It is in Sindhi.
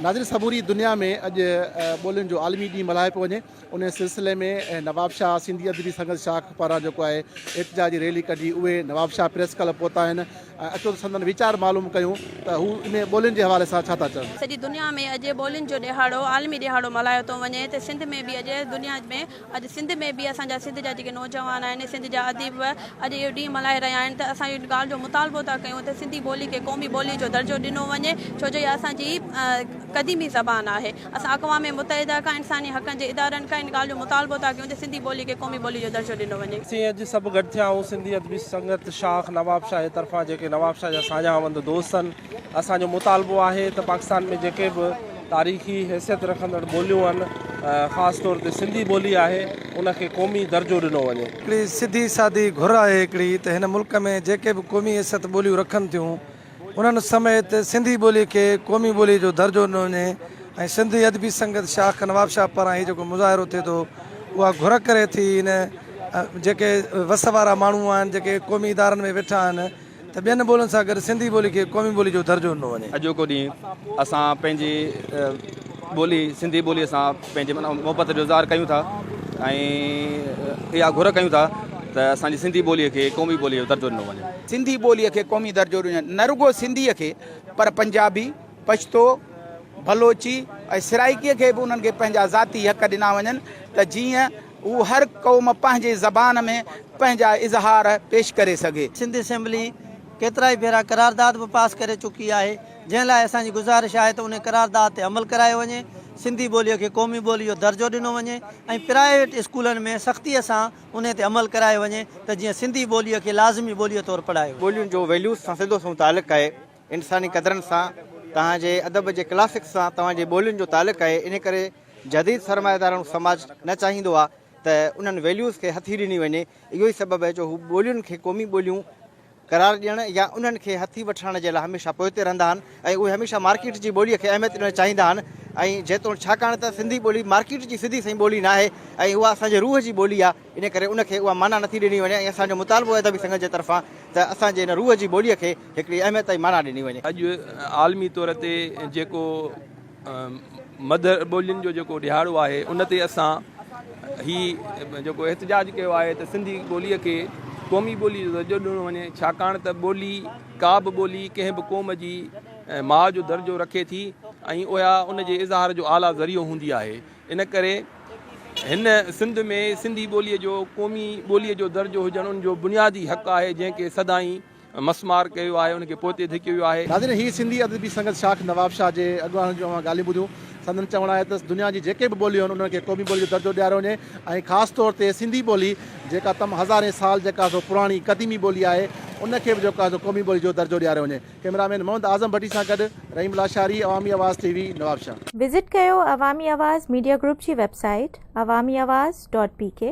ناظرين سموري دنيا ۾ اڄ ٻولين جو عالمي ڏينهن ملهايو پيو وڃي ان سلسلي ۾ نوابشاهه سنڌي ادبي سنگت شاخ پاران جيڪو آهي احتجاجي ريلي ڪڍي اهي نوابشاهه پريس ڪلب پهتا آهن اچو ته سندن ويچار معلوم ڪيون ته هو ان ٻولين جي حوالي سان ڇا ٿا چون. سڄي دنيا ۾ اڄ ٻولين جو ڏهاڙو عالمي ڏهاڙو ملهايو ٿو وڃي ته سنڌ ۾ به اڄ دنيا ۾ اڄ سنڌ ۾ به اسان جا سنڌ جا جيڪي نوجوان آهن، سنڌ جا اديب اڄ اهو ڏينهن ملهائي رهيا آهن ته اسان اهڙي ڳالهه جو مطالبو ٿا ڪيون ته سنڌي ٻولي کي قومي ٻولي جو درجو ڏنو وڃي ڇو جو اها اسان جي قديمي زبان آهي. اسان اقوام متحده کان، انساني حقن جي ادارن کان ان ڳالهه جو مطالبو ٿا ڪيون ته سنڌي ٻولي کي قومي ٻولي جو درجو ڏنو وڃي. اسين اڄ سڀ گڏ ٿيا آهيون سنڌي ادبي سنگت شاخ نوابشاهه جي طرفان جيڪي نوابشاهه جا ساڃاهه وند دوست آهن. اسان جو مطالبو آهي ته پاڪستان ۾ جيڪي به تاريخي حيثيت رکندڙ ٻوليون آهن خاص طور تي سنڌي ٻولي آهي ان کي قومي درجو ڏنو وڃي. هڪڙي سڌي سادي گهر آهي هڪڙي ته هن ملڪ ۾ جيڪي به قومي حيثيت ٻوليون رکن ٿيون انهن سميت سنڌي ٻولي کي قومي ٻولي جو درجو ڏنو وڃي ۽ سنڌي ادبي سنگت شاخ نوابشاهه پاران هي جيڪو مظاهرو ٿئي ٿو اها گهر ڪري ٿي هن جيڪي وس وارا ماڻهو آهن جيڪي قومي ادارن ۾ ويٺا آهن ته ٻين ٻولين سان گڏ سنڌي ٻولي کي قومي ٻولي جو درجو ڏنو وڃي. اڄوڪو ڏينهن اسان پنهنجي ٻولي سنڌي ٻولي سان پنهنجي محبت جو اظهار ڪيون ٿا ۽ اها گهر ڪيون ٿا ته اسان جي سنڌي ٻولي کي قومي ٻولي جو درجو ڏنو وڃي. سنڌي ٻولي کي قومي درجو ڏنو وڃي نه رڳو سنڌي کي پر پنجابي، پشتو، بلوچي ۽ سرائيڪي کي به انهن کي پنهنجا ذاتي حق ڏنا وڃن ته جيئن هو هر قوم پنهنجي زبان ۾ پنهنجا اظهار پيش ڪري سگهي. سنڌ اسيمبلي ڪيترائي ڀيرا قرارداد به پاس ڪري چڪي آهي، جنهن لاء اسان جي گذارش آهي ته انهي قرارداد تي عمل ڪرايو وڃي، سنڌي ٻوليء کي قومي ٻوليء جو درجو ڏنو وڃي ۽ پرائيويٽ اسڪولن ۾ سختيء سان انهي تي عمل ڪرايو وڃي ته جيئن سنڌي ٻوليء کي لازمي ٻوليء طور پڙهايو وڃي. ٻولين جو ويليوز سان سڌو سنئون تعلق آهي، انساني قدرن سان، توهان جي ادب جي ڪلاسڪس سان توهان جي ٻولين جو تعلق آهي ان ڪري جديد سرمائيداراڻو سماج نه چاهيندو آ ته انهن ويليوز کي هٿي ڏني وڃي اهو ئي سبب آهي جو هو ٻولين کي قومي ٻوليون قرار ڏيڻ يا انهن کي هٿي وٺرائڻ جي لاء هميشه پوئتي رهندا آهن ۽ اهي هميشه مارڪيٽ جي ٻولي کي اهميت ڏيڻ چاهيندا آهن ۽ جيتوڻ ڇاڪاڻ ته سنڌي ٻولي مارڪيٽ جي سڌي سئي ٻولي ناهي ۽ اها اسان جي روح جي ٻولي آ. ان ڪري ان کي اها معنيٰ نٿي ڏني وڃي ۽ اسان جو مطالبو آهي ادبي سنگت جي طرفان ته اسان جي ان روح جي ٻوليء کي هڪڙي اهميت ۽ معنيٰ ڏني وڃي. اڄ عالمي طور تي جيڪو مڌر ٻولين جو جيڪو ڏهاڙو آهي ان تي اسان هي جيڪو احتجاج ڪيو آهي ته سنڌي ٻوليء کي قومي ٻولي جو درجو ڏنو وڃي ڇاڪاڻ ته ٻولي ڪا به ٻولي ڪنهن به قوم جي ماء جو درجو رکي ٿي ۽ اها ان جي اظهار جو اعليٰ ذريعو هوندي آهي. ان ڪري هن سنڌ ۾ سنڌي ٻوليء جو قومي ٻوليء جو درجو هجڻ ان جو بنيادي حق آهي جنهن کي سدائين مسمار ڪيو آهي ان کي پوئتي ڌڪيو ويو آهي. ناظرين هي سنڌي ادبي سنگت شاخ نواب شاهه جي اڳواڻن جون اوهان ڳالهيون ٻڌيون. سندن چوڻ آهي ته دنيا جي جيڪي به ٻوليون آهن انهن کي قومي ٻولي جو درجو ڏياريو وڃي ۽ خاص طور تي سنڌي ٻولي جيڪا تم هزارين سال جيڪا سو پراڻي قديمي ٻولي آهي ان کي به جيڪو آهي سو قومي ٻولي جو درجو ڏياريو وڃي. ڪئميرا مين محمد اعظم ڀٽي سان گڏ رحيم Lashari Awami Awaz TV Nawabshah. Visit ڪيو عوامي آواز ميڊيا گروپ جي website Awami Awaz dot P ڪي.